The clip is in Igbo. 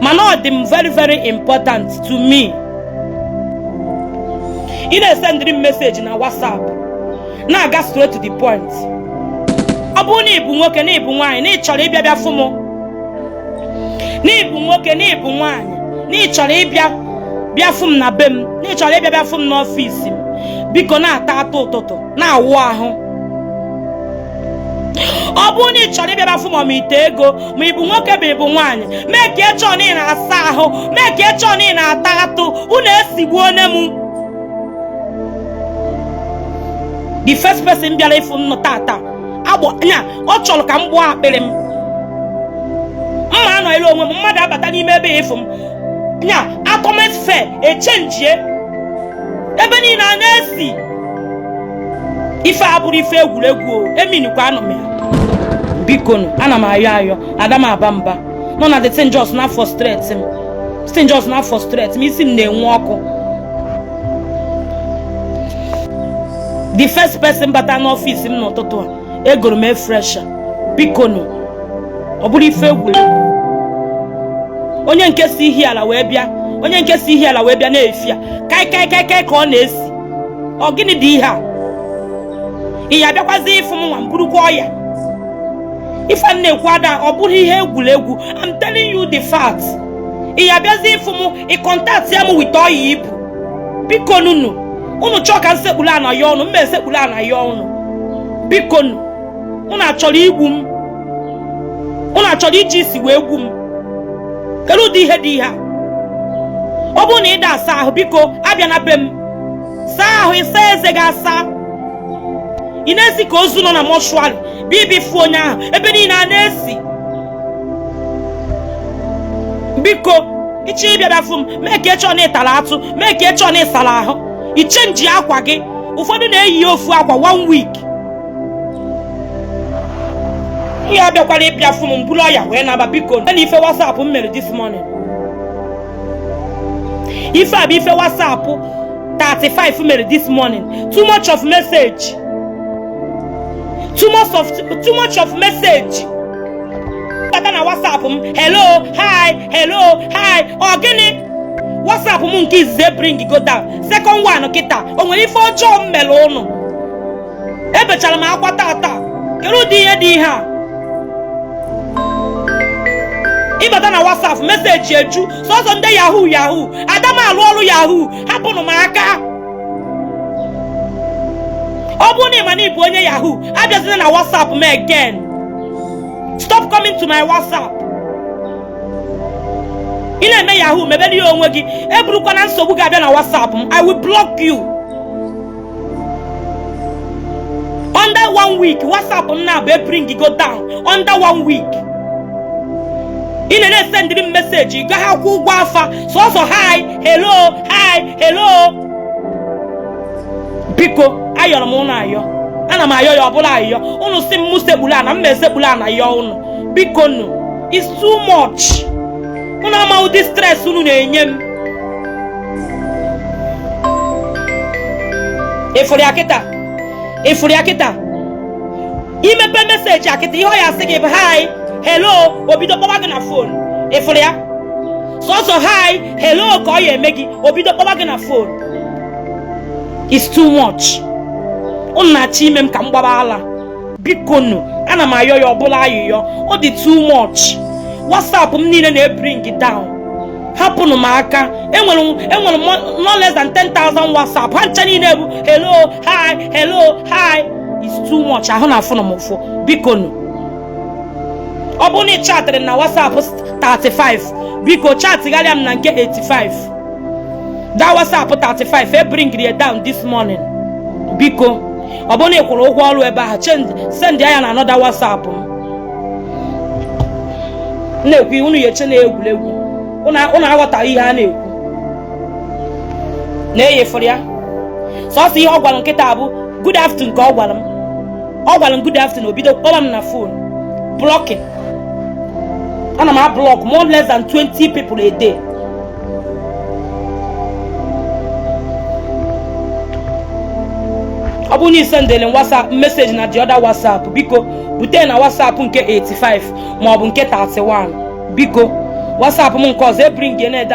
mana ọ dị m very very important to me ị na-esendịrị m meseji na WhatsApp na-aga straight to the point ọ bụrụ na ị bụ nwo na ị bụ nwoke na ị bụ nwaanyị na ị chọrọ ịbịa bịa fụ m na be m na ị chọrọ ịbịa bịa fụ m n'ọfịs m biko na-ata atụ ụtụtụ na-awụ ahụ ọ bụrụ na ị chọrọ ịbịa bịa fụ m ma ite ego ma ị bụ nwoke ma ị bụ nwaanyị make sure na ị na-asa ahụ make sure na ị na-ata atụ unu esigbuona m the first person bịara ịfụ m n'ụtụtụ a agbọ nya ọ chọrọ ka m gbọọ akpịrị m m ma anọlụ onwe m mmadụ abata n'ime ebe ịfụ m nya atmosphere echenjie ebe niile a na-esi ife a abụrọ ife egwuregwu o eminikwanụ m ya biko nụ ana m ayọ ayọ ada m aba mba nọ na the thing just na-frustrate m the thing just na-frustrate m isi m na-enwe ọkụ the first person bata n'ọfịs m n'ụtụtụ a egoro m air freshener biko nụ ọ bụrọ ife egwuregwu onye nke si Ihiala wee bịa na-efi ya kai kai kai kai ka ọ na-esi ọ gịnị dị ihe a ị ya abịakwazi ịfụ m nwa m burukwa ọya ife m na-ekwu ada ọ bụrọ ihe egwuregwu I'm telling you the fact ị ya abịazi ịfụ m ị kọntaktịa m with ọya i bu bikonụnụ unu chọọ ka m sekpuru ana yọọ unu m ma esekpuru ana yọọ unu bikonụnụ unu achọrọ igbu m unu achọrọ iji isi wee gbuo m kedu ụdị ihe dị ihe a ọ bụrụ na ị da asa ahụ biko abịa na be m saa ahụ saa eze gị asa ị na-esi ka ozu nọ na mortuary bịa bịa fụ onye ahụ ebe niile a na-esi biko ị chọọ ịbịa bịa fụ m make sure na ị tara atụ make sure na ị sara ahụ i chenjie akwa gị ụfọdụ na-eyi ofu akwa one week ị ya abịakwara ịbịa fụ m buru ọya wee naba biko na ife WhatsApp m mere this morning ife a bụ ife WhatsApp 35 mere this morning too much of message too much of too much of message bata na WhatsApp m hello hi hello hi ọ gịnị WhatsApp m nke izizi bring go down second one kịta o nwere ife ọjọọ m mere ụnụ ebechara m akwa tata kedu ụdị ihe dị ihe a ịbata na whatsapp message eju sọsọ ndị yahoo yahoo ada m alụ ọrụ yahoo hapụnụ m aka ọ bụrụ na ị ma na ị bụ onye yahoo abịazina na whatsapp m again stop coming to my whatsapp ị na-eme yahoo mebere ya onwe gị eburukwana nsogbu gị abịa na whatsapp m i will block you under one week whatsapp m na-abụ ebring go down under one week ị na na-esendịrị m message gaghị akwụ ụgwọ afa sọsọ hi hello hi hello biko ayọrọ m ụnụ ayọ ana m ayọ ya ọ bụlụ ayọ ụnụ si m mụ sekpulu ana m esekpulu ana yọ ụnụ biko nụ it's too much unu ama ụdị stress unu na-enye m ị fụrụ ya kịta ị fụrụ ya kịta i mepe message a kịta ihe ọ ya-asị gị bụ hi hello o bido kpọwa gị na phone ị fụrụ ya sọsọ hi hello ka ọ ya-eme gị o bido kpọwa gị na phone it's too much unu na-achọ ime m ka m gbaba ala bikonu ana m ayọ ya ọ bụlụ ayịyọ ọ dị too much whatsapp m niile na-ebring down hapụnụ m aka enwere enwere no less than 10,000 whatsapp ha ncha niile bụ hello hi hello hi it's too much ahụ na-afụnụ m ụfụ bikonu ọ bụrụ na ị chatịrị na whatsapp 35 biko chatịgharịa m na nke 85 that whatsapp 35 ebringri down this morning biko ọ bụrụ na ị kwụrụ ụgwọ ọrụ ebe ahụ send ya na another whatsapp m na-ekwu unu ya-eche na egwuregwu unu aghọtaghị ihe a na-ekwu nee ị fụrụ ya sọsọ ihe ọ gwara m kịta bụ good afternoon ka ọ gwara m ọ gwara m good afternoon o bido kpọrọ m na phone blocking ana m ablock more less than 20 people a day ọ bụrụ na ị sendere WhatsApp message na the other WhatsApp biko bute na WhatsApp nke 85 maọbụ nke 31 biko WhatsApp m nke ọzọ ebring na-ede